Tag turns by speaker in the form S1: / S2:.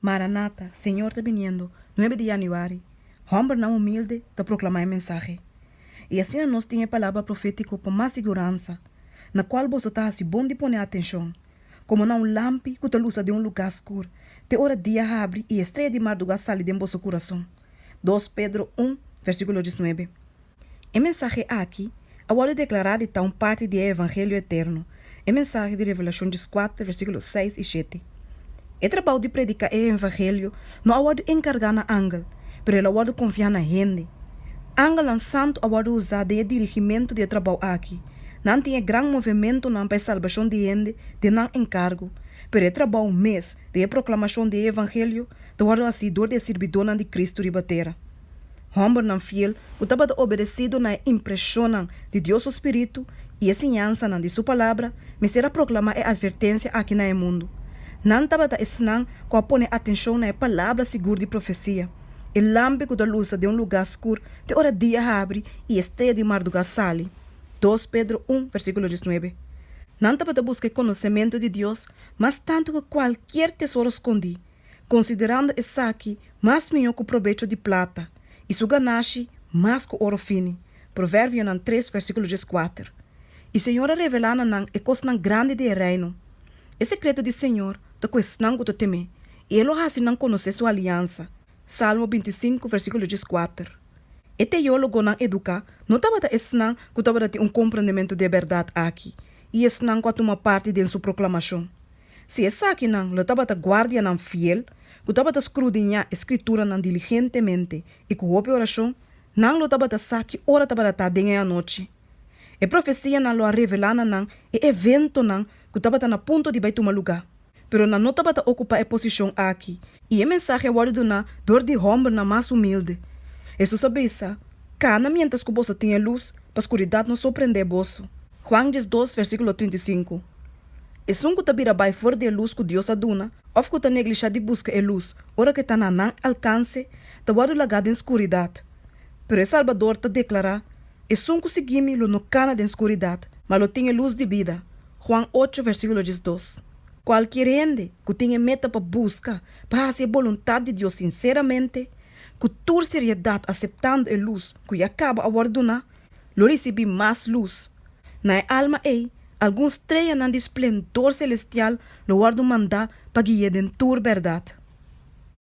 S1: Maranata, Señor ta biniendo, nuebe di Januari, hòmbernan humilde ta proklamá e mensahe. I asina nos tin e palabra profétiko pa mas siguransa, na kual boso ta hasi bon di pone atenshon, komo na un lampi ku ta lusa den un lugá skur, te ora dia habri i e streya di mardugá sali den boso kurason. Dos Pedro un, vèrsikulo diesnuebe. E mensahe aki a wòrdu deklará di ta un parti di e evangelio eterno, e mensahe di Revelashon dieskuater, versíkulo seis i shete. E trabou di prediká e evangelio no a wòrdu enkargá na angel, pero el a wòrdu konfiá na hende. Angelnan santu a wòrdu usá den e dirigimentu di e trabou aki. Nan tin e gran movementunan pa e salbashon di hende den nan enkargu, pero e trabou mes di e proklamashon di e evangelio ta wòrdu hasí dor di e sirbidónan di Kristu riba tera. Hòmbernan fiel ku tabata obedesido na e impreshonnan di Dios su Spiritu i e siñansanan di Su Palabra mester a proklamá e atvertensia aki na e mundu. Nan tabata esnan ku a pone atenshon na e palabra sigur di profesia, e lampi ku ta lusa den un lugá skur te ora dia habri i e strea di mardugá sali, dos Pedro un versíkulo diesnuebe. Nan tabata buska e konosementu di Dios mas tantu ku kualkier tesoro skondí. Konsiderando esaki, mas mihó ku probecho di plata, i su ganashi mas ku oro fini, Proverbionan tres, versíkulo dies kuater. E Señor a revelá na nan e kosnan grandi di e Reino. E sekreto di Señor ta ku esnan ku ta tem'é, i e lo hasi nan konosé su aliansa, Salmo binti i sinku, versíkulo dies kuater. E teólogonan eduká no tabata esnan ku tabata tin un komprondementu di e bèrdat aki i esnan ku a tuma parti den su proklamashon. Si esakinan lo tabata guardianan fiel ku tabata skrudiñá e Skrituranan diligentemente i ku hopi orashon, nan lo tabata sa ki ora tabata ta den e anochi. E profesianan lo a revelá na nan e eventonan ku tabata na punto di bai tuma lugá. Pero nan no tabata okupá e posishon aki, i e mensahe a wòrdu duná dor di hòmbernan mas humilde. Hesus a bisa, Kana miéntras ku boso tin e lus, pa skuridat no sorprendé boso. Juan diesdos, versíkulo trinta i sinku. Esun ku ta bira bai for di e lus ku Dios a duna òf ku ta neglishá di buska e lus ora ku e ta na nan alkanse, ta wòrdu lagá den skuridat. Pero e Salbador ta deklará, Esun ku sigui mi lo no kana den skuridat, ma lo tin e lus di bida. Juan ocho versíkulo diesdos. Kualkier hende ku tin e meta pa buska pa hasi e boluntat di Dios sinseramente, ku tur seriedat aseptando e lus ku ya kaba a wòrdu duná, lo risibí mas lus. Na e alma ei, algun streanan di splendor selestial lo wòrdu mandá pa gui'é den tur bèrdat.